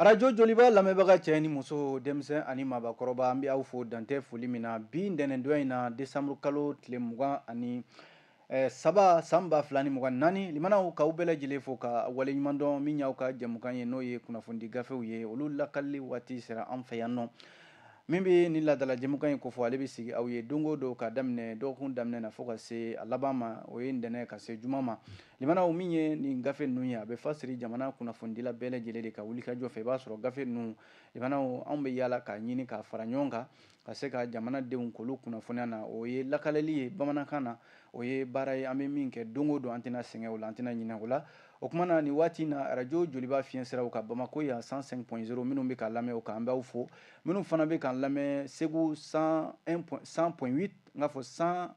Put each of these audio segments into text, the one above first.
arajo joliba lamɛnbaga cɛ ni muso denmisɛn ani maabakɔrɔba an bɛ aw fo dantɛ foli min na bi ntɛnɛndon in na desanburu kalo tile mugan ani eh, saba san ba fila ni mugan naani limanaw k'aw bɛɛ lajɛlen fo ka waleɲumandɔn min y'aw ka jɛmukan ye n'o ye kunnafonidi gafew ye olu lakalili waati sera an fɛ yan nɔ min bɛ ni laadala jɛmukan in kofɔ ale bɛ sigi aw ye don o don ka daminɛ dɔgɔkun daminɛ na fo ka se a laban ma o ye ntɛnɛn ka se juma ma limanaw min ye nin gafe ninnu ye a bɛ fasiri jamana kunnafonidila bɛɛ lajɛlen de ka wulikajɔ fɛ i b'a sɔrɔ gafe ninnu limanaw anw bɛ yaala k'a ɲini k'a fara ɲɔgɔn kan ka se ka jamanadenw k'olu kunnafoniya na o ye lakaleli ye bamanankan na o ye baara ye an bɛ min kɛ don o don an tɛna sɛgɛn o la an tɛna ɲinɛ o la O kuma na nin waati na arajo joliba fiɲɛsiraw kan bamakɔ yan cent cinq point zéro minnu bɛ k'an lamɛn o kan an b'aw fo minnu fana bɛ k'an lamɛn segu cent cent point huit n k'a fɔ cent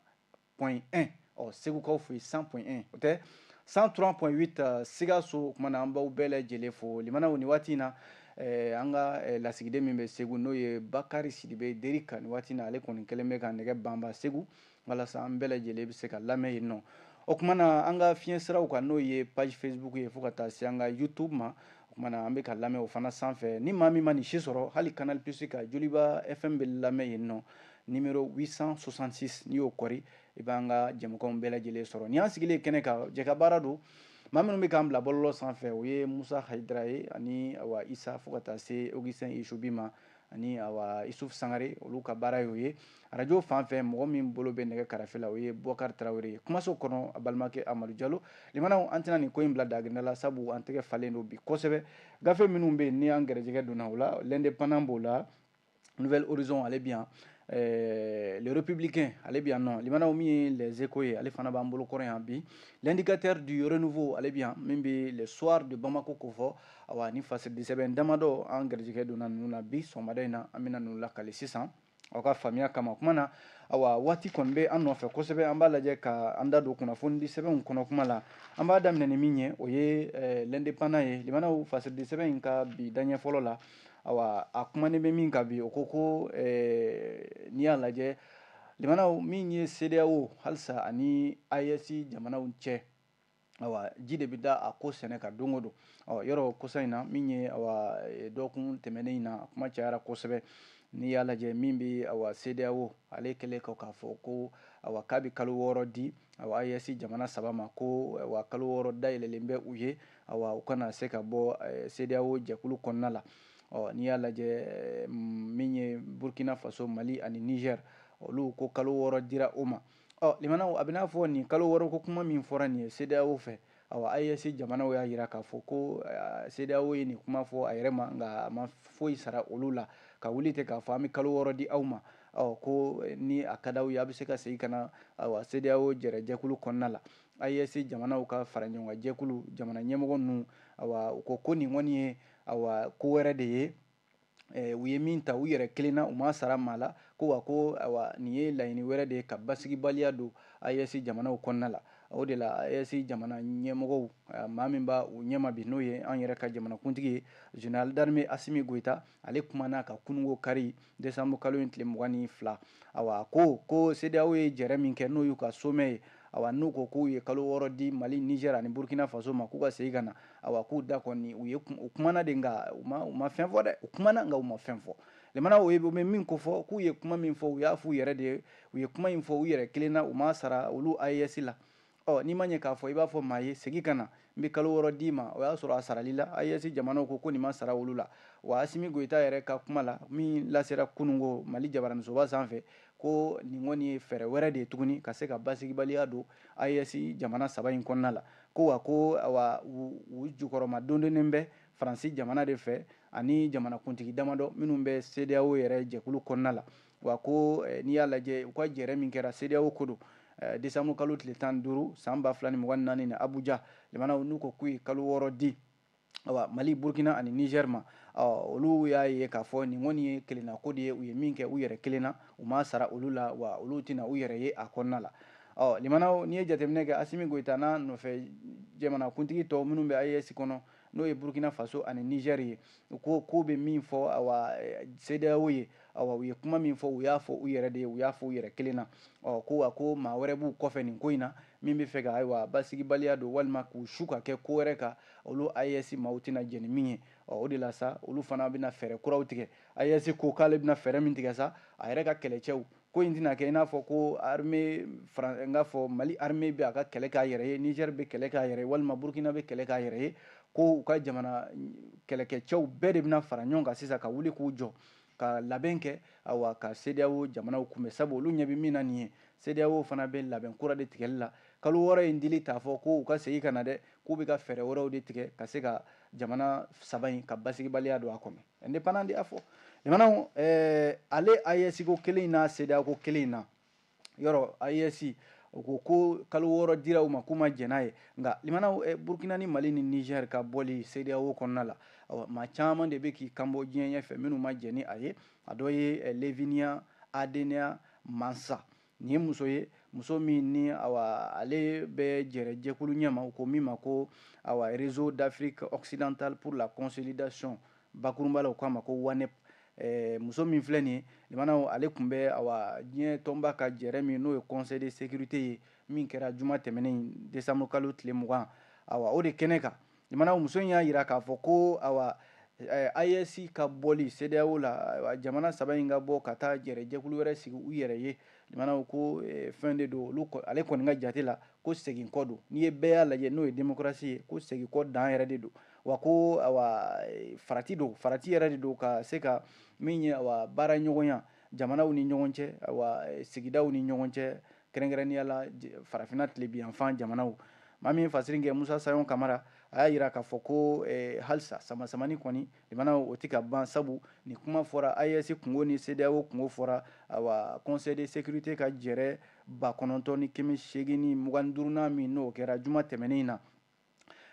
point un segukaw fo cent point un o tɛ cent trois point huit sikaso o kuma na an b'aw bɛɛ lajɛ lajɛlen fo limanaw nin waati in na an ka lasigiden min bɛ segu n'o ye bakari sidibe derika nin waati na ale kɔni kɛlen bɛ ka nɛgɛ banba segu walasa an bɛɛ lajɛlen bɛ se ka lamɛn yen nɔ o kuma na an ka fiɲɛ siraw kan n'o ye page facebook ye fo ka taa se an ka youtube ma o kuma na an bɛ ka lamɛn o fana sanfɛ ni maa min ma nin si sɔrɔ hali canal plus ka joliba fm bɛ lamɛn yen nɔ numéro 866 n'i y'o kɔri i b'an ka jɛmukanw bɛɛ lajɛlen sɔrɔ ni an sigilen kɛnɛ kan jɛkabaara don maa minnu bɛ k'an bila bɔlɔlɔ sanfɛ o ye musa hayidara ye ani awa isa fo ka taa se augustin isubi ma ani awa isuf sangare olu ka baara y'o ye arajo fan fɛ mɔgɔ min bolo bɛ nɛgɛ karafe la o ye bɔkari tarawele ye kumaso kɔnɔ a balimakɛ amadu jalo limanaw an tɛna nin ko in bila daginda la sabu an tɛgɛ falen don bi kosɛbɛ gafe minnu bɛ ni an gɛrɛjɛgɛ donna o la l'indépendant b'o la nouvel horizon ale bi yan Eh, le républicain ale bi yan nɔ limanaw min ye les échos ye ale fana b'an bolo kɔrɔ yan bi l'indicateur du renouveau ale bi yan min bɛ le soir de bamako ko fɔ Awa ni fasidisɛbɛn damadɔ an garijɛgɛ donna ninnu na bi sɔgɔmada in na an bɛna ninnu lakali sisan aw ka faamuya kama o kuma na awa waati kɔni bɛ an nɔfɛ kosɛbɛ an b'a lajɛ ka an da don kunnafonidi sɛbɛnw kɔnɔ kuma la an b'a daminɛ ni min ye o ye eh, l'indépendant ye limanaw fasiridi sɛbɛn in ka bi daɲɛ fɔlɔ la awa a kumanen bɛ min kan bi o ko ko eh, n'i y'a lajɛ limanaw min ye CEDEAO halisa ani AES jamanaw cɛ awa ji de bɛ da a ko sɛnɛ kan don o don yɔrɔ kosa in na min ye e, dɔgɔkun tɛmɛnen in na kuma cayara kosɛbɛ n'i y'a lajɛ min bɛ awa CEDEAO ale kɛlen kɔ k'a fɔ ko awa k'a bɛ kalo wɔɔrɔ di awa AES jamana saba ma ko awa kalo wɔɔrɔ dayɛlɛlen bɛ u ye awa u kana se ka bɔ e, CEDEAO jɛkulu kɔnɔna la ɔ n'i y'a lajɛ e, min ye Burkina Faso Mali ani Niger olu ko kalo wɔɔrɔ dira o ma Ɔ limanaw a bɛ n'a fɔ nin kalo wɔɔrɔ ko kuma min fɔra nin ye CEDEAO fɛ awa AES jamanaw y'a jira k'a fɔ ko CEDEAO ye nin kuma fɔ a yɛrɛ ma nka a ma foyi sara olu la ka wuli ten k'a fɔ an bɛ kalo wɔɔrɔ di aw ma ɔ ko ni a ka d'aw ye a bɛ se ka segin ka na awa CEDEAO jɛrɛ jɛkulu kɔnɔna la AES jamanaw ka faraɲɔgɔnkan jɛkulu jamana ɲɛmɔgɔ ninnu awa u ko ko nin kɔni ye awa ko wɛrɛ de ye u ye min ta u yɛrɛ kelen na u ma sara maa la ko wa ko nin ye laɲini wɛrɛ de ye ka basigibaliya don AES jamanaw kɔnɔna la o de la AES jamana ɲɛmɔgɔ maa min b'u ɲɛma bi n'o ye an yɛrɛ ka jamanakuntigi ye général d'armée Asimi Goyita ale kumana ka kununko kari desanburu kalo in tile mugan ni fila a ko ko CEDEAO ye jɛrɛ min kɛ n'o y'u ka sommet ye a n'u ko k'u ye kalo wɔɔrɔ di mali Niger ani burukina faso ma k'u ka segin ka na Ayiwa k'u da kɔni u ye u kumana de nka u ma u ma fɛn fɔ dɛ u kumana nka u ma fɛn fɔ limana o ye u bɛ min ko fɔ k'u ye kuma min fɔ u y'a f'u yɛrɛ de ye u ye kuma in fɔ u yɛrɛ kelen na u ma sara olu AES la ɔ n'i ma ɲɛ k'a fɔ i b'a fɔ maa ye segin ka na n bɛ kalo wɔɔrɔ d'i ma o y'a sɔrɔ a saral'i la AES jamanaw ko ko nin ma sara olu la wa Asimi Goyita yɛrɛ ka kuma la min lasera kunungo Mali jabaraninsoba sanfɛ ko nin kɔni ye fɛɛrɛ wɛrɛ de ye tuguni ka se ka basigibaliya don AES jamana saba in kɔnɔna la ko wa ko awa u jukɔrɔma dondonnen bɛ faransi jamana de fɛ ani jamanakuntigi damadɔ minnu bɛ CEDEAO yɛrɛ jɛkulu kɔnɔna la wa ko eh, n'i y'a lajɛ u ka jɛrɛ min kɛra CEDEAO ko don eh, desanburu kalo tile tan ni duuru san ba fila ni mugan ni naani na Abuja limanaw n'u ko k'u ye kalo wɔɔrɔ di mali burukina ani Niger ma olu y'a ye k'a fɔ nin kɔni ye kelenna ko de ye u ye min kɛ u yɛrɛ kelen na u ma sara olu la wa olu tɛna u yɛrɛ ye a kɔnɔna la ɔ limana n'i ye jateminɛ kɛ Asimi Goyita n'a nɔfɛ jamanakuntigi tɔ minnu bɛ AES kɔnɔ n'o ye burukina faso ani Niger ye u ko ko bɛ min fɔ CEDEAO ye u ye kuma min fɔ u y'a fɔ u yɛrɛ de ye u y'a fɔ u yɛrɛ kelen na ɔ ko wa ko maa wɛrɛ b'u kɔfɛ nin ko in na min bɛ fɛ ka ayiwa basigibaliya don walima k'u su ka kɛ ko wɛrɛ kan olu AES maaw tɛna jɛn ni min ye ɔ o de la sa olu fana bɛna fɛɛrɛ kuraw tigɛ AES ko k'ale bɛna fɛɛrɛ min tigɛ sa a yɛrɛ ka kɛlɛcɛw ko in tɛna kɛ i n'a fɔ ko armée n k'a fɔ Mali armée bɛ a ka kɛlɛ k'a yɛrɛ ye Niger bɛ kɛlɛ k'a yɛrɛ ye walima Burkina bɛ kɛlɛ k'a yɛrɛ ye ko u ka jamana kɛlɛkɛcɛw bɛɛ de bɛna fara ɲɔgɔn kan sisan ka wuli k'u jɔ ka labɛn kɛ awa ka CEDEAO jamanaw kunbɛn sabu olu ɲɛ bɛ min na nin ye, CEDEAO fana bɛ labɛn kura de tigɛli la kalo wɔɔrɔ in dili t'a fɔ ko u ka segin ka na dɛ, k'u bɛ ka fɛɛrɛ wɛrɛw de tigɛ ka se ka jamana saba in ka basigibaliya don a kɔnɔ. Indépendant de y'a fɔ. Limanaw, ɛɛ ale AES-ko kelen in n'a CEDEAO-ko kelen in na, yɔrɔ AES o ko ko kalo wɔɔrɔ dira u ma k'u ma jɛn n'a ye nka limanaw eh, Burkina ni Mali ni Niger ka bɔli CEDEAO kɔnɔna la awa maa caman de bɛ k'i kanbɔ diɲɛ ɲɛfɛ minnu ma jɛn ni a ye a dɔ ye eh, Levinia Adenea Mansa nin ye muso ye muso min ni awa ale bɛ jɛrɛ jɛkulu ɲɛma u ko min ma ko awa Réseau d'Afrique occidentale pour la consolidation Bakurunba la u k'a ma ko Wanep ɛɛ muso min filɛ nin ye limanaw ale tun bɛ awa diɲɛ tɔnba ka jɛɛrɛ min n'o ye conseil de sécurité ye min kɛra juma tɛmɛnen in décembre kalo tile mugan awa o de kɛnɛ kan limanaw muso in y'a jira k'a fɔ ko awa ɛɛ AES ka bɔli CEDEAO la ayiwa jamana saba in ka bɔ ka taa jɛɛrɛ jɛkulu wɛrɛ sigi u yɛrɛ ye limanaw ko ɛɛ fɛn de don olu ale kɔni ka jate la ko segin kɔ don n'i ye bɛɛya lajɛ n'o ye démocratie ye ko segin kɔ dan yɛrɛ de don wa ko farati don farati yɛrɛ de don ka se ka min ye baara ɲɔgɔnya jamanaw ni ɲɔgɔn cɛ sigidaw ni ɲɔgɔn cɛ kɛrɛnkɛrɛnnenya la farafinna tilebinyanfan jamanaw maa min fasiri kɛ Musa Sayon Kamara a y'a jira k'a fɔ ko halisa samasamani kɔni limanaw o tɛ ka ban sabu nin kuma fɔra AES kungo ni CEDEAO kungo fɔra conseil de sécurité ka jɛrɛ ba kɔnɔntɔn ni kɛmɛ seegin ni mugan ni duurunan min n'o kɛra juma tɛmɛnen in na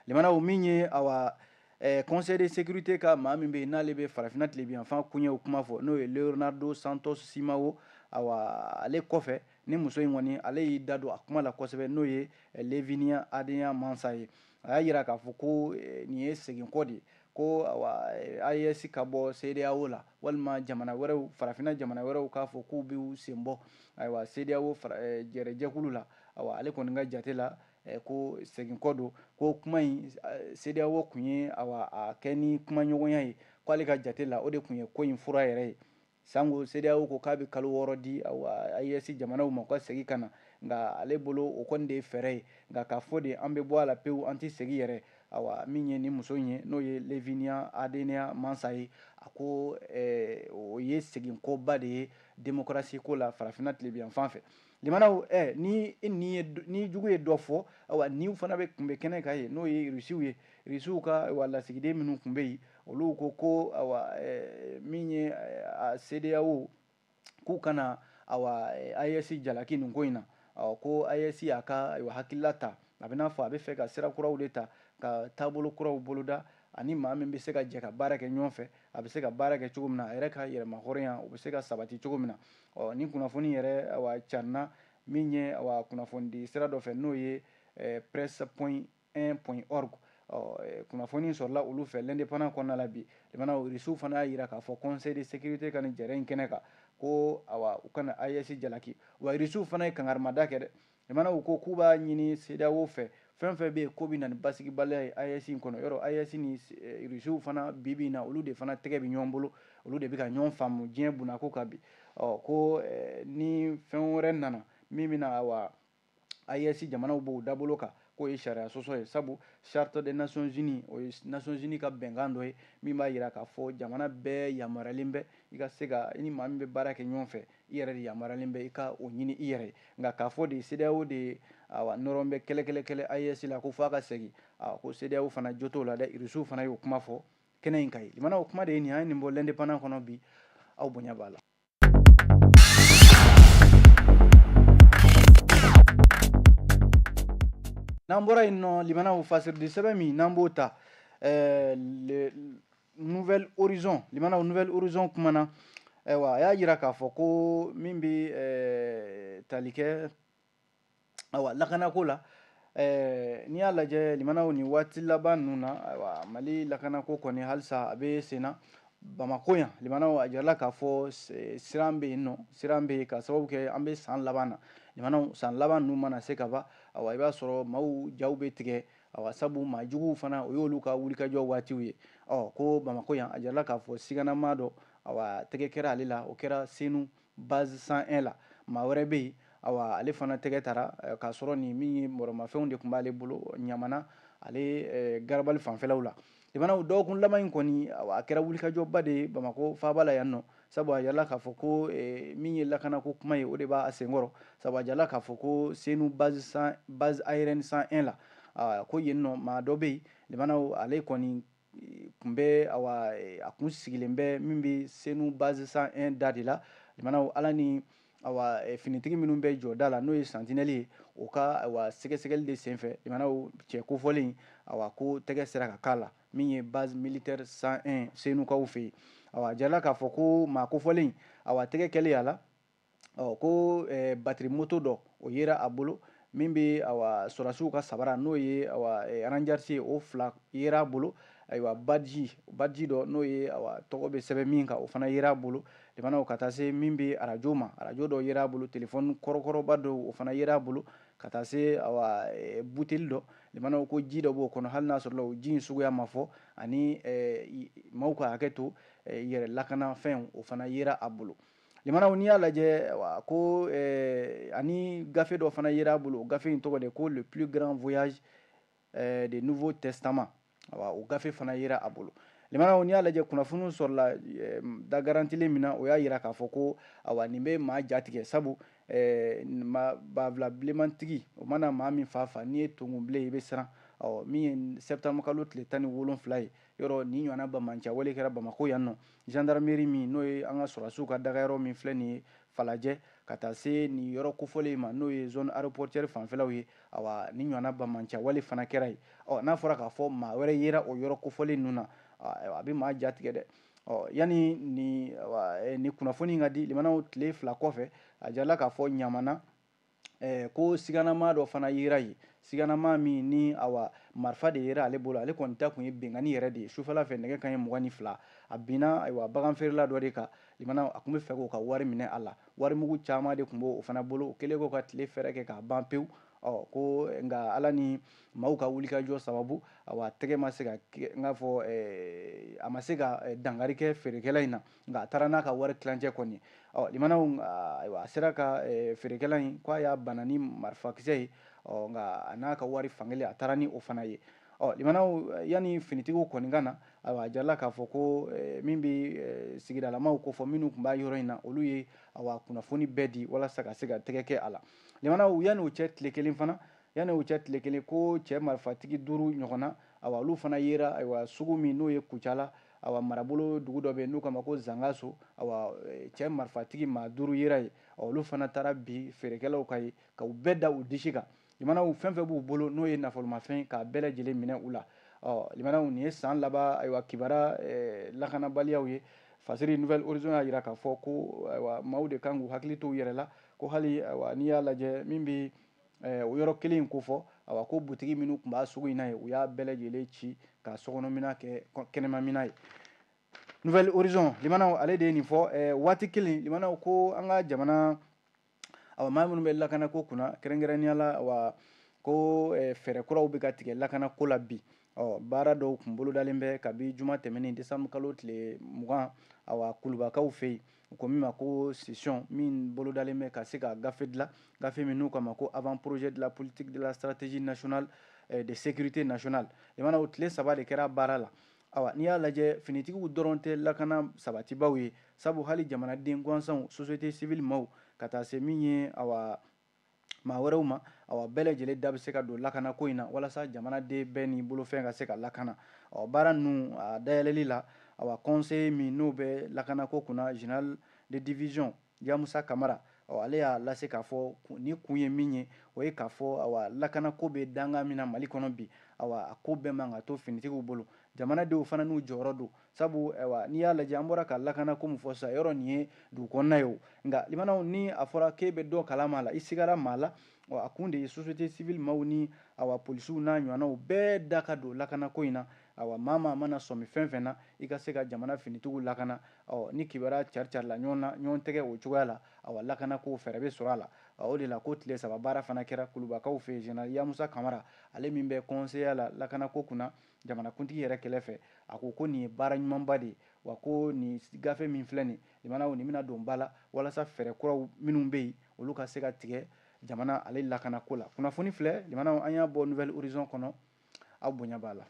limanaw min ye awa eh, conseil de sécurité ka maa min bɛ yen n'ale bɛ farafina tilebinyanfan kuɲɛw kuma fɔ n'o ye Leonardo Santos Simão awa ale kɔfɛ ni muso in kɔni ale y'i da don a kuma la kosɛbɛ n'o ye eh, Levinia Adenea Mansa ye a y'a jira k'a fɔ ko eh, nin ye seginkɔ de ye ko awa eh, AES ka bɔ CEDEAO la walima jamana wɛrɛw farafina jamana wɛrɛw k'a fɔ k'u b'u sen bɔ ayiwa CEDEAO eh, jɛrɛjɛkulu la awa ale kɔni ka jate la Ko segin kɔ don ko kuma in CEDEAO kun y'a kɛ ni kumaɲɔgɔnya ye k'ale ka jate la o de kun ye ko in fura yɛrɛ ye san CEDEAO ko k'a bɛ kalo wɔɔrɔ di AES jamanaw ma u ka segin ka na nka ale bolo o kɔni de ye fɛɛrɛ ye nka k'a fɔ de an bɛ bɔ a la pewu an tɛ segin yɛrɛ min ye nin muso in ye n'o ye Levinia Adenea Mansa ye a ko o ye segin kɔba de ye démocratie ko la farafinna tilebinyanfan fɛ Limanaw ɛ ni ni ye ni jugu ye dɔ fɔ ayiwa ɲin fana bɛ kun bɛ kɛnɛ kan yen n'o ye Rusiw ye Rusiw ka lasigiden minnu kun bɛ yen olu ko ko min ye CEDEAO k'u kana AES jalaki nin ko in na ɔ ko AES y'a ka hakilila ta a bɛ n'a fɔ a bɛ fɛ ka sira kuraw de ta ka taabolo kuraw boloda ani maa min bɛ se ka jɛ ka baara kɛ ɲɔgɔn fɛ a bɛ se ka baara kɛ cogo min na a yɛrɛ ka yɛrɛmahɔrɔnya o bɛ se ka sabati cogo min na ɔ ni kunnafoni yɛrɛ awa carinna min ye awa kunnafonidi sira dɔ fɛ n'o ye eh, press point 1 point org ɔ eh, kunnafoni sɔrɔla olu fɛ l'indépendant kɔnɔna la bi limanaw irisiw fana y'a yira k'a fɔ conseil de sécurité ka nin jɛrɛ in kɛnɛ kan ko awa u kana AES jalaki wa irisiw fana ye kangarimada kɛ dɛ Limanaw ko k'u b'a ɲini CEDEAO fɛ fɛn fɛn bɛ yen k'o bɛ na ni basigibaliya ye AES in kɔnɔ yɔrɔ AES ni eh, Rusiw fana bi bi in na olu de fana tɛgɛ bɛ ɲɔgɔn bolo olu de bɛ ka ɲɔgɔn faamu diɲɛ bunako kan bi ɔ ko eh, ni fɛn wɛrɛ nana min bɛna awa AES jamanaw b'o dabolo kan k'o ye sariya sɔsɔ ye sabu charte des nations unies o ye nations unies ka bɛnkan dɔ ye min b'a jira k'a fɔ jamana bɛɛ yamaruyalen bɛ i ka se ka i ni maa min bɛ baara kɛ ɲɔgɔn fɛ I yɛrɛ de yamaruyalen bɛ i ka o ɲini i yɛrɛ ye, nka k'a fɔ de CEDEAO de nɔrɔn bɛ kɛlɛkɛlɛkɛlɛ AES la ko fo a ka segin, aa ko CEDEAO fana jo t'o la dɛ, Irisiw fana y'o kuma fɔ kɛnɛ in kan yen. Limanaw kuma de ye nin ye, an ye nin bɔ L'Indépendant kɔnɔ bi, aw bonya b'a la. N'an bɔra yen nɔ, limanaw, fasiridisɛbɛn min n'an b'o ta, ɛɛ le nouvel horizon limanaw nouvel horizon kumana ayiwa a y'a jira k'a fɔ ko min bɛ eh, tali kɛ ayiwa lakanako la eh, n'i y'a lajɛ limanaw nin waati laban ninnu na ayiwa mali lakanako kɔni halisa a bɛ sen na bamako yan limanaw a jirala k'a fɔ siran bɛ yen nɔ siran bɛ yen ka sababu kɛ an bɛ san laban na limanaw san laban ninnu mana se ka ban ayiwa i b'a sɔrɔ maaw jaw bɛ tigɛ Awa sabu maa juguw fana, o y'olu ka wulikajɔ waatiw ye. Ɔ ko Bamakɔ yan, a jirala k'a fɔ sigananmaa dɔ, awa tɛgɛ kɛra ale la, o kɛra Senu, base 101 la. Maa wɛrɛ bɛ yen, awa ale fana tɛgɛ tara, k'a sɔrɔ nin min ye mɔrɔmafɛnw de tun b'ale bolo, Ɲamana, ale garabali fanfɛlaw la. limanaw dɔgɔkun laban in kɔni a kɛra wulikajɔba de ye bamakɔ faaba la yan nɔ sabu a jirala k'a fɔ ko eh, min ye lakanako kuma ye o de b'a senkɔrɔ sabu a jirala k'a fɔ ko senu base aérienne 101 la ah, ko yen nɔ maa dɔ bɛ yen limanaw ale kɔni eh, kun bɛ awa eh, a kun sigilen bɛ min bɛ senu base 101 da de la limanaw ala ni awa eh, finitigi minnu bɛ jɔda la n'o ye santinɛli ye o ka awa sɛgɛsɛgɛli de senfɛ limanaw cɛ kofɔlen awa ko tɛgɛ sera ka k'a la min ye base militaire 101 senukaw fɛ yen awa jirala k'a fɔ ko maa kofɔlen awa tɛgɛ kɛlen a la ɔ ko eh, batiri moto dɔ o yera a bolo min bɛ sɔrɔdasiw ka sabara n'o ye ranjarisi ye o fila yera a bolo ayiwa baji baji dɔ n'o ye tɔgɔ bɛ sɛbɛn min kan o fana yera a bolo limanaw ka taa se min bɛ arajo ma arajo dɔ yera a bolo telefɔni kɔrɔkɔrɔba dɔw o fana yera a bolo ka taa se buteli dɔ limanaw ko ji dɔ b'o kɔnɔ hali n'a sɔrɔ o ji in suguya ma fɔ ani maaw ka hakɛ to yɛrɛ lakanafɛn o fana yera a bolo limanaw n'i y'a lajɛ wa ko eh, ani gafe dɔ fana yera a bolo o gafe in tɔgɔ de ko le plus grand voyage eh, de nouveau testament wa o gafe fana yera a bolo limanaw n'i y'a lajɛ kunnafoniw sɔrɔla eh, da garantilen min na o y'a yira k'a fɔ ko awa nin bɛ maa jatigɛ sabu eh, banfula bilenmantigi o mana maa min fa fa n'i ye tonkun bilen i bɛ siran ɔ min ye septembre kalo tile tan ni wolonfila ye yɔrɔ nin ɲɔgɔnna banbaanciya wale kɛra bamakɔ yan nɔ gendarmerie min n'o ye an ka sɔrɔdasiw ka dagayɔrɔ min filɛ nin ye falajɛ ka taa se nin yɔrɔ kofɔlen ma n'o ye zone aéroportuaire fanfɛlaw ye awa nin ɲɔgɔnna banbaanciya wale fana kɛra yen ɔ n'a fɔra k'a fɔ maa wɛrɛ yera o yɔrɔ kofɔlen ninnu na a bɛ maa jatigɛ dɛ ɔ yanni ni nin kunnafoni ka di limanaw tile fila kɔfɛ a jirala k'a fɔ limanaw eh, ko siganama dɔ fana yera yen siganama min ni awa marifa de yera ale bolo ale kɔni ta kun ye binkanni yɛrɛ de ye sufɛla fɛ nɛgɛ kanɲɛ mugan ni fila a binna ayiwa bagan feerela dɔ de kan limanaw a kun bɛ fɛ k'o ka wari minɛ a la wari mugu caman de kun b'o fana bolo o kɛlen k'o ka tile feere kɛ k'a ban pewu ɔ ko nka ala ni maaw ka wulikajɔ sababu awa tɛgɛ ma se ka n k'a fɔ eh, a ma se ka eh, dankari kɛ feerekɛla in na nka a taara n'a ka wari tilancɛ kɔni ye ɔ limanaw ayiwa a sera ka feerekɛla in ko a y'a bana ni marifakisɛ ye ɔ nka a n'a ka wari fankelen a taara ni o fana ye ɔ limanaw yanni finitigiw kɔni ka na ayiwa a jirala k'a fɔ ko min bɛ sigidalamaw kofɔ minnu tun b'a yɔrɔ in na olu ye awa kunnafoni bɛɛ di walasa ka se ka tɛgɛ kɛ a la limanaw yanni o cɛ tile kelen fana yanni o cɛ tile kelen ko cɛ marifatigi duuru ɲɔgɔnna awa olu fana yera ayiwa sugu min n'o ye kucala Awa marabolo dugu dɔ bɛ yen n'u k'a ma ko Zangaso, awa cɛ marifatigi maa duuru yera yen, awa olu fana taara bin feerekɛlaw kan yen ka u bɛɛ da u disi kan. Limanaw fɛn fɛn b'u bolo n'o ye nafolomafɛn k'a bɛɛ lajɛlen minɛ u la. Ɔ limanaw nin ye san laban ayiwa kibaru lakanabaliyaw ye. Fajiri Nouvel Horizon y'a jira k'a fɔ ko ayiwa maaw de kan k'u hakili to u yɛrɛ la ko hali ayiwa n'i y'a lajɛ min bɛ o yɔrɔ kelen in kofɔ awa ko butigi minnu tun b'a sugu in na ye u y'a bɛɛ lajɛlen ci ka sokɔnɔmina kɛ kɛnɛmamina ye Nouvel Horizon limanaw ale de ye nin fɔ waati kelen limanaw ko an ka jamana maa minnu bɛ lakana ko kunna kɛrɛnkɛrɛnnenya la awa ko fɛɛrɛ kuraw bɛ ka tigɛ lakana ko la bi ɔ baara dɔw kun bolodalen bɛ kabi juma tɛmɛnen décembre kalo tile mugan awa kulubakaw fɛ yen U ko min ma ko session min bolodalen bɛ ka se ka gafe dilan gafe min n'u k'a ma ko avant-projet de la politique de la stratégie nationale de sécurité nationale limanaw o tile saba de kɛra baara la ayiwa n'i y'a lajɛ finitigiw dɔrɔn tɛ lakana sabatibaw ye sabu hali jamanaden gansanw société civile maaw ka taa se min ye a maa wɛrɛw ma awa bɛɛ lajɛlen da bɛ se ka don lakana ko in na walasa jamanaden bɛɛ ni bolofɛn ka se ka lakana ɔ baara ninnu dayɛlɛli la awa conseiller min n'o bɛ lakana ko kunna général de division yamusa kamara ɔ ale y'a lase k'a fɔ ni kun ye min ye o ye k'a fɔ lakana ko bɛ danga min na mali kɔnɔ bi awa a ko bɛɛ man ka to finitigiw bolo jamanadenw fana n'u jɔyɔrɔ don Sabu n'i y'a lajɛ an bɔra ka lakana ko min fɔ sisan yɔrɔ nin ye dugu kɔnɔna ye nka limanaw ni a fɔra k'e bɛ dɔ kalama la i sigida maa la a kun de ye société civile maaw ni awa polisiw n'a ɲɔgɔnnaw bɛɛ da ka don lakana ko in na awa maa mana sɔmi fɛn fɛn na i ka se ka jamana finitigiw lakana ɔ ni kibaruya cari carila ɲɔgɔn na ɲɔgɔn tɛgɛ o cogoya la awa lakana ko fɛɛrɛ bɛ sɔrɔ a la o de la ko tile saba baara fana kɛra kulubakaw fɛ yen général yamusa kamara ale min bɛ conseillerya la lakana ko kunna jamanakuntigi yɛrɛ kɛrɛ fɛ a ko ko nin ye baara ɲumanba de ye wa ko nin gafe min filɛ nin limanaw nin bɛna don ba la walasa fɛɛrɛ kuraw minnu bɛ yen olu ka se ka tigɛ jamana ale lakana ko la kunnafoni filɛ limanaw an y'a bɔ nouvel horizon kɔnɔ aw bonya b'a la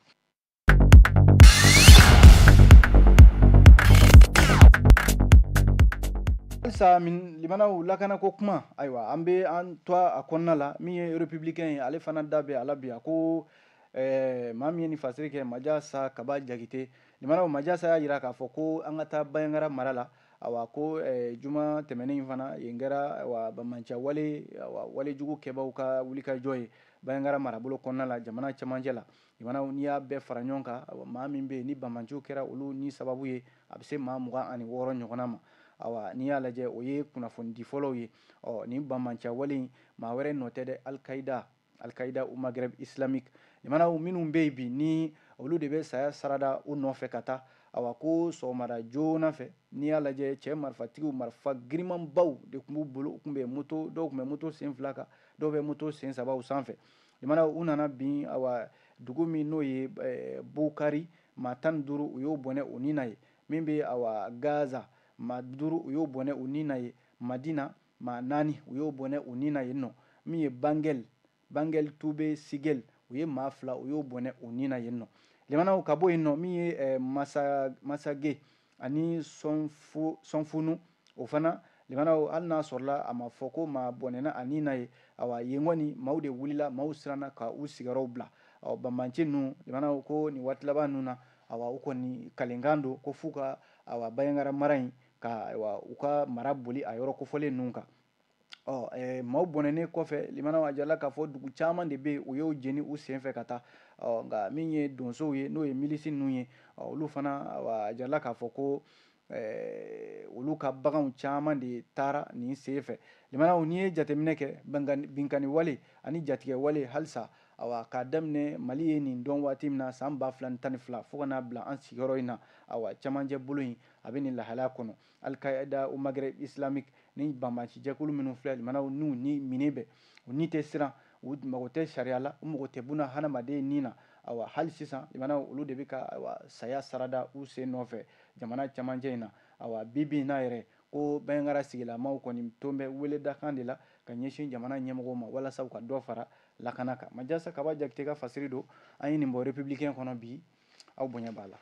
halisa limanaw lakana ko kuma ayiwa an bɛ an to a kɔnɔna la min ye républicain ye ale fana da bɛ a la bi a ko Ɛɛ maa min ye nin fasiri kɛ majasa kaba jakite limanaw majasa y'a jira k'a fɔ ko an ka taa banjagara mara la awa ko juma tɛmɛnen in fana yen kɛra banbanciya wale walejugu kɛbaw ka wulikajɔ ye banjagara marabolo kɔnɔna la jamana cɛmancɛ la limanaw n'i y'a bɛɛ fara ɲɔgɔn kan maa min bɛ yen ni banbanciw kɛra olu ni sababu ye a bɛ se maa mugan ani wɔɔrɔ ɲɔgɔn ma ayiwa n'i y'a lajɛ o ye kunnafonidi fɔlɔw ye ɔ nin banbanciya wale in maa wɛrɛ nɔ tɛ dɛ alikayida Al-Qaida au Maghreb islamique limanaw minnu bɛ yen bi ni olu de bɛ saya sarada u nɔfɛ ka taa awa ko sɔgɔmada joona fɛ n'i y'a lajɛ cɛ marifatigiw marifa girimanbaw de tun b'u bolo u tun bɛ moto dɔw tun bɛ moto sen fila kan dɔw bɛ moto sen sabaw sanfɛ limanaw u nana bin awa dugu min n'o ye eh, Bukari maa tan duuru u y'o bɔnɛ u ni na yen min bɛ awa Gaza maa duuru u y'o bɔnɛ u ni na yen Madina Maa naani, u y'o bɔnɛ u ni na yen nɔ, min ye Bangel, Bangel Tube Sigel, u ye maa fila, u y'o bɔnɛ u ni na yen nɔ. Limanaw, ka bɔ yen nɔ, min ye Masage ani Sɔnfunu, o fana, limanaw, hali n'a sɔrɔla a ma fɔ ko maa bɔnɛna a ni na yen, awa, yen kɔni, maaw de wulila, maaw siranna ka u sigiyɔrɔw bila. Ɔ, banbanci ninnu, limanaw ko nin waati laban ninnu na, awa, u kɔni kalikan don ko f'u ka, awa, Banjagara mara in ka u ka mara boli a yɔrɔ kofɔlen ninnu kan ɔ maaw bɔnɛnen kɔfɛ limanaw a jirala k'a fɔ dugu caman de bɛ yen u y'o jeni u senfɛ ka taa ɔ nka min ye donsow ye n'o ye milisi ninnu ye olu fana a jirala k'a fɔ ko olu ka baganw caman de taara nin senfɛ limanaw n'i ye jateminɛ kɛ binkanni wale ani jatigɛ wale halisa awa k'a daminɛ mali ye nin dɔn waati min na san ba fila tan ni fila fo ka n'a bila an sigiyɔrɔ in na awa cɛmancɛ bolo in A bɛ nin lahalaya kɔnɔ, Al-Qaeda au Maghreb islamique ni banbancijɛkulu minnu filɛ limanaw n'u ni minɛn bɛ, u ni tɛ siran, u mago tɛ sariya la, u mago tɛ buna hadamaden ni na, awa, hali sisan limanaw olu de bɛ ka awa, saya sarada u sen nɔfɛ jamana cɛmancɛ in na, awa, bi bi in na yɛrɛ, ko Banjagara sigilamaw kɔni tun bɛ weledakan de la ka ɲɛsin jamana ɲɛmɔgɔw ma walasa u ka dɔ fara lakana kan. Majasa Kaba Jakite ka fasiri don, an ye nin bɔ Républicain kɔnɔ bi. aw bonya b'a la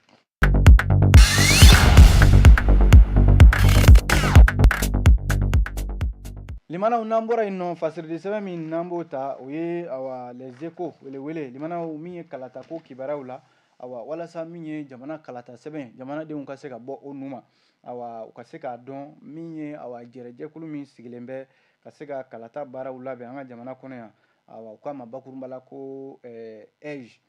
limanaw n'an bɔra yen nɔ fasiri di sɛbɛn min n'an b'o ta o ye awa Les Échos welewele limanaw min ye kalata ko kibaruyaw la awa walasa min ye jamana kalata sɛbɛn jamanadenw ka se ka bɔ o nu ma awa u ka se k'a dɔn min ye awa jɛrɛjɛkulu min sigilen bɛ ka se ka kalata baaraw labɛn an ka jamana kɔnɔ yan awa u k'a ma bakurunba la ko AIGE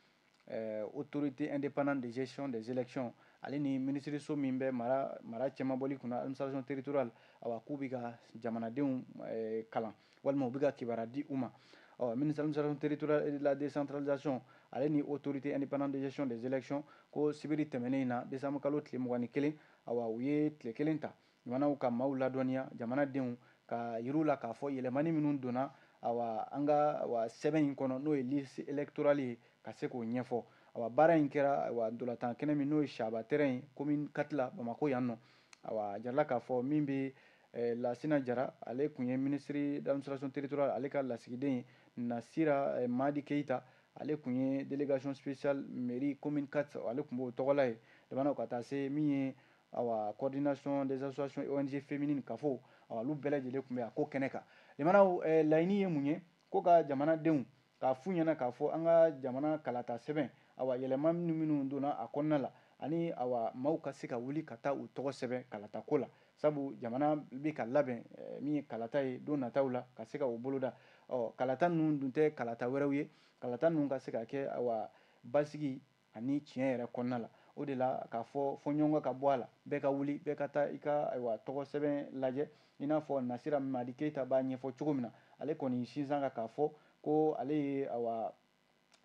ɛɛ autorité indépendante de gestion des élections ale ni minisiriso min bɛ mara mara cɛmabɔli kunna administration territoriale awa k'u bɛ ka jamanadenw ɛɛ kalan walima u bɛ ka kibaruya di u ma ɔ ministre administration territoriale et de la décentralisation ale ni autorité indépendante de gestion des élections ko sibiri tɛmɛnen in na décembre kalo tile mugan ni kelen awa u ye tile kelen ta Jamanaw ka maaw ladɔnniya jamanadenw k'a yir'u la k'a fɔ yɛlɛmani minnu donna awa an ka awa sɛbɛn in kɔnɔ n'o ye liste électorale ye ka se k'o ɲɛfɔ awa baara in kɛra awa ntolatan kɛnɛ min n'o ye Chaba terrain ye commune 4 la Bamako yan nɔ awa a jirala k'a fɔ min bɛ eh, Lasina Jara ale tun ye ministre d'administration territoriale ale ka lasigiden ye Nasira eh, Madi Keita ale tun ye délégation spéciale mairie commune 4 ale tun b'o tɔgɔ la yen jamanaw ka taa se min ye awa coordination des associations ONG féminines CAFO awa olu bɛɛ lajɛlen tun bɛ a ko kɛnɛ kan limanaw eh, laɲini ye mun ye ko ka jamanadenw k'a f'u ɲɛna k'a fɔ an ka jamana kalata sɛbɛn awa yɛlɛma minnu minnu donna a kɔnɔna la ani awa maaw ka se ka wuli ka taa u tɔgɔ sɛbɛn kalata ko la sabu jamana bɛ ka labɛn eh, min ye kalata ye don nataw la ka se ka o boloda ɔ kalata ninnu dun tɛ kalata wɛrɛw ye kalata ninnu ka se ka kɛ awa basigi ani tiɲɛ yɛrɛ kɔnɔna la o de la k'a fɔ fɔɲɔgɔnkɔ ka bɔ a la bɛɛ ka wuli bɛɛ ka taa i ka ayiwa tɔgɔ sɛbɛn lajɛ i n'a fɔ nasira madi keyita b'a ɲɛfɔ cogo min na ale kɔni sinsinna kan k'a fɔ ko ale ye ayiwa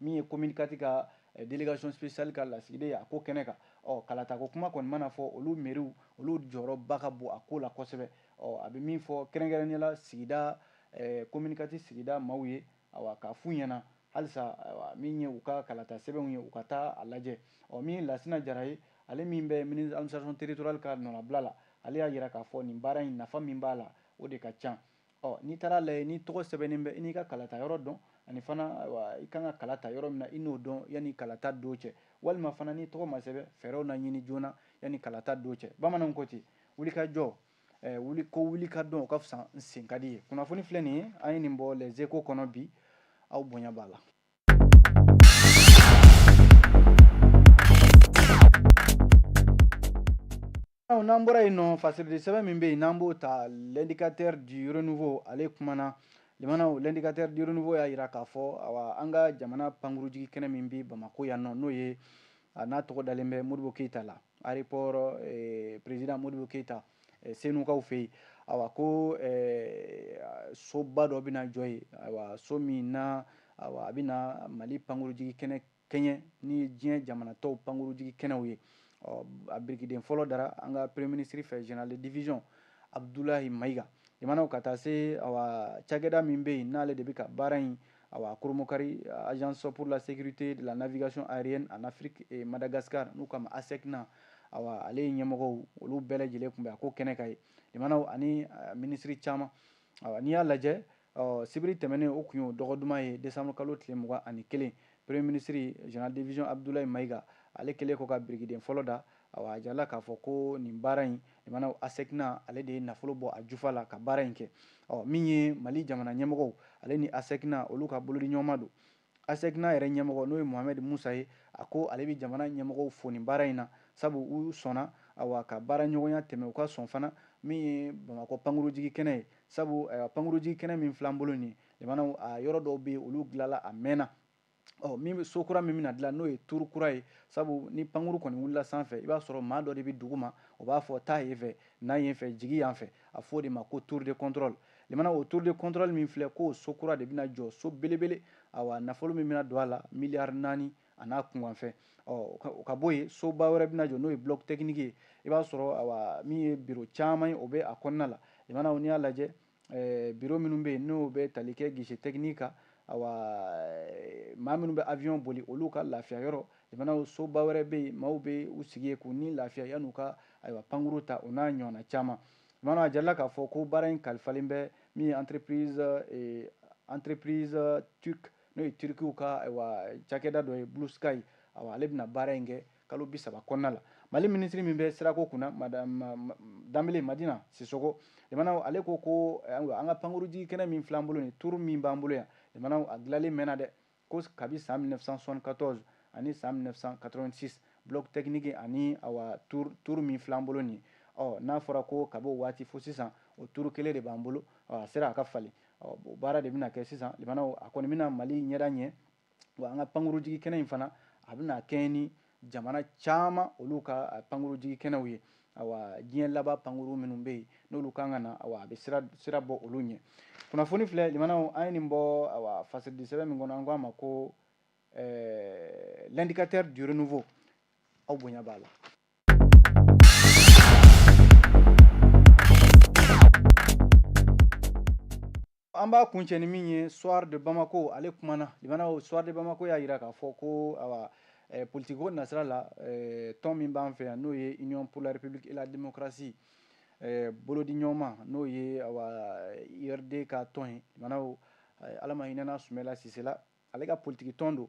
min ye commune quatre ka eh, delegation spéciale ka lasigiden ye a ko kɛnɛ kan ɔ kalatako kuma kɔni mana fɔ olu meriw olu jɔyɔrɔba ka bon a ko la kosɛbɛ ɔ a bɛ min fɔ kɛrɛnkɛrɛnnenya la sigida commune quatre eh, sigida maaw ye awa k'a f'u ɲɛna Halisa min ye u ka kalata sɛbɛnw ye u ka taa a lajɛ. Ɔ min ye Lasina Jara ye, ale min bɛ Ministre Administration Territoriale ka nɔnabila la, ale y'a jira k'a fɔ nin baara in nafa min b'a la, o de ka ca. Ɔ n'i taara a lajɛ n'i tɔgɔ sɛbɛnnen bɛ i n'i ka kalata yɔrɔ dɔn ani fana i ka kan ka kala ta yɔrɔ min na i n'o dɔn yanni kalata don cɛ, walima fana n'i tɔgɔ ma sɛbɛn, fɛɛrɛw na ɲini joona yanni kalata don cɛ. Bamananw ko ten, wulikajɔ wuli ko wuli ka dɔn o ka fisa n sen ka di ye kunnafoni filɛ nin ye an ye nin bɔ les échos kɔnɔ bi aw bonya b'a la n'an bɔra yen nɔ fasirili sɛbɛn min bɛ yen n'an b'o ta l'indicateur du renouveau ale kumana limanaw l'indicateur du renouveau y'a jira k'a fɔ awa an ka jamana pankurujigi kɛnɛ min bɛ bamakɔ yan nɔ n'o ye a n'a tɔgɔ dalen bɛ modibo keyita la aéroport président modibo keyita senukaw fɛ yen a ko soba dɔ bɛna jɔ yen so min na a bɛna mali pankurujigi kɛnɛ kɛɲɛ ni diɲɛ jamana tɔw pankurujigi kɛnɛw ye a birikiden fɔlɔ dara an ka premier minisiri fɛ général de division abudulayi mayiga limanaw ka taa se cakɛda min bɛ yen n'ale de bɛ ka baara in Awa Koromokari, Agence pour la sécurité de la navigation aérienne en Afrique et Madagascar, n'u k'a ma ASECNA, awa ale ye ɲɛmɔgɔw olu bɛɛ lajɛlen tun bɛ a ko kɛnɛ kan yen limanaw ani minisiri caman awa n'i y'a lajɛ sibiri tɛmɛnen o tun y'o dɔgɔ duman ye desanburu kalo tile mugan ani kelen premier minisiri général de division abudulayi mayiga ale kɛlen kɔ ka birikiden fɔlɔ da A jirala k'a fɔ ko nin baara in limanaw ASECNA ale de ye nafolo bɔ a jufa la ka baara in kɛ ɔ min ye mali jamana ɲɛmɔgɔw ale ni ASECNA olu ka bolodiɲɔgɔnma don ASECNA yɛrɛ ɲɛmɔgɔ n'o ye muhamɛdi musa ye a ko ale bɛ jamana ɲɛmɔgɔw fo nin baara in na sabu u sɔnna ka baara ɲɔgɔnya tɛmɛ u ka sɔn fana min ye bamakɔ pankurujigi kɛnɛ ye sabu pankurujigi kɛnɛ min fil'an bolo nin limanaw a yɔrɔ dɔw bɛ olu dilanla a mɛnna ɔ min bɛ so kura min bɛna dilan n'o ye tour kura ye sabu ni pankuru kɔni wulila sanfɛ i b'a sɔrɔ maa dɔ de bɛ duguma o b'a fɔ taa yen fɛ na yen fɛ jigi yan fɛ a fɔ o de ma ko tour de contrôle limanaw o tour de contrôle min filɛ k'o so kura de bɛna jɔ so belebele awa nafolo min bɛna don a la miliyari naani a n'a kunkanfɛn ɔ o ka bɔ yen soba wɛrɛ bɛna jɔ n'o ye bloc technique ye i b'a sɔrɔ awa min ye biro caman ye o bɛ a kɔnɔna la limanaw n'i y'a lajɛ Eh, biro minnu bɛ yen n'o bɛ tali kɛ guichet technique kan awa eh, maa minnu bɛ avion boli olu ka lafiya yɔrɔ limanaw soba wɛrɛ bɛ yen maaw bɛ u sigi yen k'u ni lafiya yan'u ka ayiwa pankuru ta o n'a ɲɔgɔnna caman limanaw a jirala k'a fɔ ko baara in kalifalen bɛ min ye entreprise eh, entreprise turque n'o ye turkiw ka ayiwa cakɛda dɔ ye Blue Sky awa ale bɛna baara in kɛ Kalo bi saba kɔnɔna la, Mali minisiri min bɛ sirako kunna, Madame Danbele Madina Sisoko, limanaw, ale ko ko ayiwa, an ka pankurunjigin kɛnɛ min filɛ an bolo nin, tour min b'an bolo yan, limanaw, a dilanlen mɛnna dɛ, ko kabi san 1974 ani san 1986, bloc technique ani awa tour tour min filɛ an bolo nin ye, ɔ n'a fɔra ko kabi o waati fo sisan, o tour kelen de b'an bolo, ɔ a sera a ka falen, ɔ o baara de bɛna kɛ sisan, limanaw, a kɔni bɛna Mali ɲɛda ɲɛ. wa an ka pankurujigi kɛnɛ in fana a bɛna kɛɲɛ ni jamana caman olu ka pankurujigi kɛnɛw ye awa diɲɛ laban pankuru minnu bɛ yen n'olu kan ka na awa a bɛ sira sira bɔ olu ɲɛ kunnafoni filɛ limanaw an ye nin bɔ awa fasiridi sɛbɛn min kɔnɔ an k'a ma ko eh, l'indicateur du renouveau aw bonya b'a la An b'a kuncɛ ni min ye soir de Bamako ale kumana limanaw soir de Bamako y'a jira k'a fɔ ko awa eh, politikiko nasira la eh, tɔn min b'an fɛ yan n'o ye Union pour la République et la Démocratie eh, bolodi ɲɔgɔnma n'o ye awa URD ka tɔn ye limanaw eh, Ala ma hinɛna Sumɛla Sise la ale ka politiki tɔn don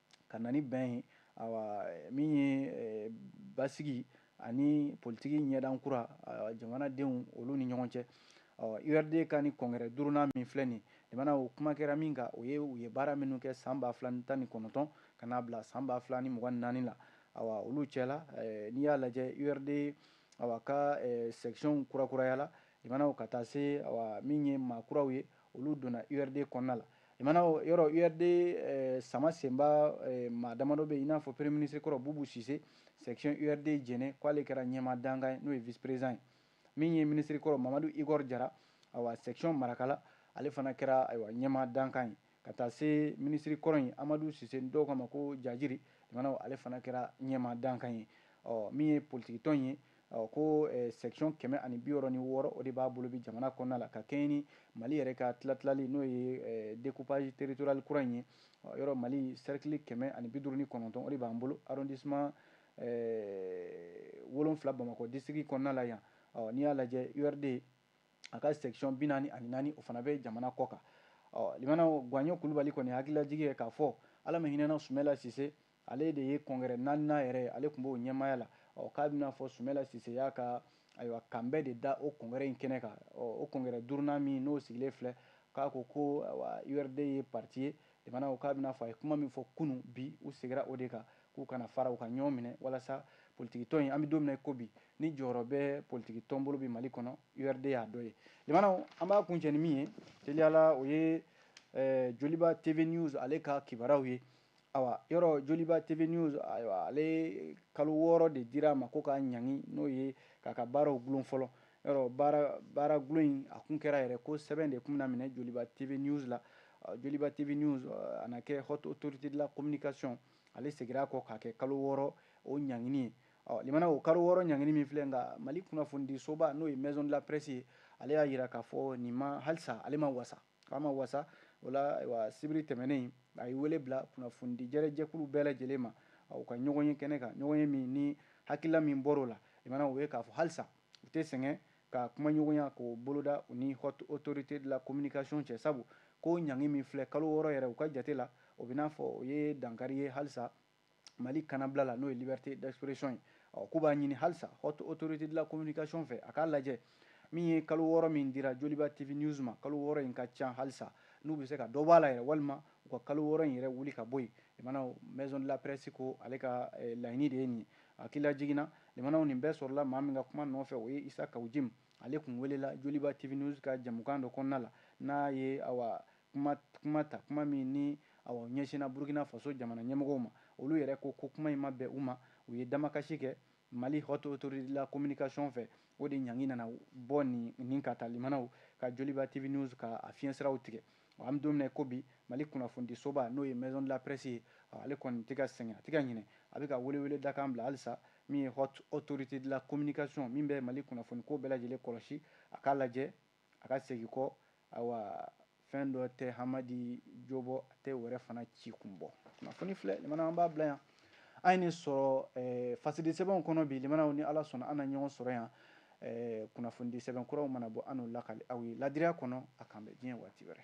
ka na ni bɛn ye min ye basigi ani politiki ɲɛdan kura jamanadenw olu ni ɲɔgɔn cɛ URD ka nin congrès duurunan min filɛ nin limanaw kuma kɛra min kan o ye u ye baara minnu kɛ san ba fila tan ni kɔnɔntɔn ka n'a bila san ba fila ni mugan ni naani la olu cɛ la n'i y'a lajɛ URD ka section kurakurayala limanaw ka taa se min ye maa kuraw ye olu donna URD kɔnɔna la Limanaw yɔrɔ URD eh, sama senba eh, maa damadɔ bɛ i n'a fɔ premier ministre kɔrɔ Bubu Sise section URD Jɛnɛ k'ale kɛra ɲɛmaa dankan ye n'o ye vice président ye min ye ministre kɔrɔ Mamadu Igor Jara awa section Marakala ale fana kɛra ayiwa ɲɛmaa dankan ye ka taa se ministre kɔrɔ in Amadu Sise dɔw k'a ma ko Jajiri limanaw ale fana kɛra ɲɛmaa dankan ye ɔ min ye politikitɔn ye Ɔ ko section kɛmɛ ani bi wɔɔrɔ ni wɔɔrɔ o de b'a bolo bi jamana kɔnɔna la ka kɛɲɛ ni Mali yɛrɛ ka tilatilali n'o ye découpage territorial kura in ye yɔrɔ Mali cercle kɛmɛ ani bi duuru ni kɔnɔntɔn o de b'an bolo arrondissement wolonfila Bamakɔ district kɔnɔna la yan ɔ n'i y'a lajɛ URD a ka section bi naani ani naani o fana bɛ jamana kɔ kan ɔ limanaw Guwaɲɔn Kulubali kɔni hakililajigi ye k'a fɔ Ala ma hinɛna Sumɛla Sise Ale de ye congrès naaninan yɛrɛ ye ale tun b'o ɲɛmaaya la ɔ k'a bɛ n'a fɔ sumɛla sise y'a ka ayiwa kanbɛn de da o congrès in kɛnɛ kan ɔ o congrès duurunan min n'o sigilen filɛ k'a ko ko urd ye parti ye limanaw k'a bɛ n'a fɔ a ye kuma min fɔ kunun bi u segira o de kan k'u kana fara u ka ɲɔgɔn minɛ walasa politikitɔn in an bɛ don min na ko bi ni jɔyɔrɔ bɛ politikitɔn bolo bi mali kɔnɔ urd y'a dɔ ye limanaw an b'a kuncɛ ni min ye teliya la o ye eh, joliba tv news ale ka kibaruyaw ye awa yɔrɔ joliba tv news ayiwa ale kalo wɔɔrɔ de dira a ma ko k'a ɲangi n'o ye k'a ka baaraw gulon fɔlɔ yɔrɔ baara baara gulon in a kun kɛra yɛrɛ ko sɛbɛn de tun bɛna minɛ joliba tv news la joliba tv news a na kɛ haute autorité de la communication ale segira a kɔ k'a kɛ kalo wɔɔrɔ o ɲangini ye ɔ limanaw kalo wɔɔrɔ ɲangini min filɛ nka mali kunnafonidisoba n'o ye maison de la presse ye ale y'a yira k'a fɔ nin ma halisa ale ma wasa K'a ma wasa, o la ayiwa sibiri tɛmɛnen in, a ye wele bila kunnafonidijɛrɛ jɛkulu bɛɛ lajɛlen ma, u ka ɲɔgɔn ye kɛnɛ kan, ɲɔgɔnye min ni hakilila min bɔr'o la, limanaw o ye k'a fɔ halisa u tɛ sɛgɛn ka kumaɲɔgɔnya k'o boloda u ni Haute Autorité de la Communication cɛ, sabu ko ɲangi min filɛ kalo wɔɔrɔ yɛrɛ, u ka jate la, o bɛ n'a fɔ o ye dankari ye halisa mali kanabila la n'o ye liberté d'expression ye ɔ k'u b'a ɲini halisa haute autorité de la communication fɛ a k'a lajɛ min ye kalo wɔɔrɔ min dira joliba tv news ma kalo wɔɔrɔ in ka ca halisa n'u bɛ se ka dɔ b'a la yɛrɛ walima u ka kalo wɔɔrɔ in yɛrɛ wuli ka bɔ yen limanaw maison de la presse ko ale ka eh, laɲini de ye nin ye hakililajigin na limanaw nin bɛɛ sɔrɔla maa min ka kuma nɔfɛ o ye isa kawu jim ale tun welela joliba tv news ka jamukan dɔ kɔnɔna la n'a ye awa kuma ta, kuma min ni a ɲɛsinna Burukina Faso jamana ɲɛmɔgɔw ma. Olu yɛrɛ ko ko kuma in ma bɛn u ma. U ye damakasi kɛ Mali Haute Autorité de la Communication fɛ. O de ɲangi nana bɔ nin ka taa limanaw ka Joliba TV News ka a fiɲɛsiraw tigɛ. Ɔ, an bɛ don min na i ko bi, Mali kunnafonidisoba n'o ye Maison de la Presse ye, ɔ ale kɔni tɛ ka sɛgɛn, a tɛ ka ɲinɛ. A bɛ ka weleweledakan bila halisa min ye Haute Autorité de la Communication min bɛ Mali kunnafoniko bɛɛ lajɛlen kɔlɔsi, a k'a lajɛ A ka segin kɔ, awa, fɛn dɔ tɛ Hamadi jo bɔ, a tɛ wɛrɛ fana ci kun bɔ. Kunnafoni filɛ, limanaw an b'a bila yan. An ye nin sɔrɔ eh, fasidi sɛbɛnw kɔnɔ bi, limanaw ni Ala sɔnna an na ɲɔgɔn sɔrɔ yan eh, kunnafonidi sɛbɛn kuraw mana bɔ an n'u lakali aw ye ladiriya kɔnɔ a k'an bɛn diɲɛ waati wɛrɛ.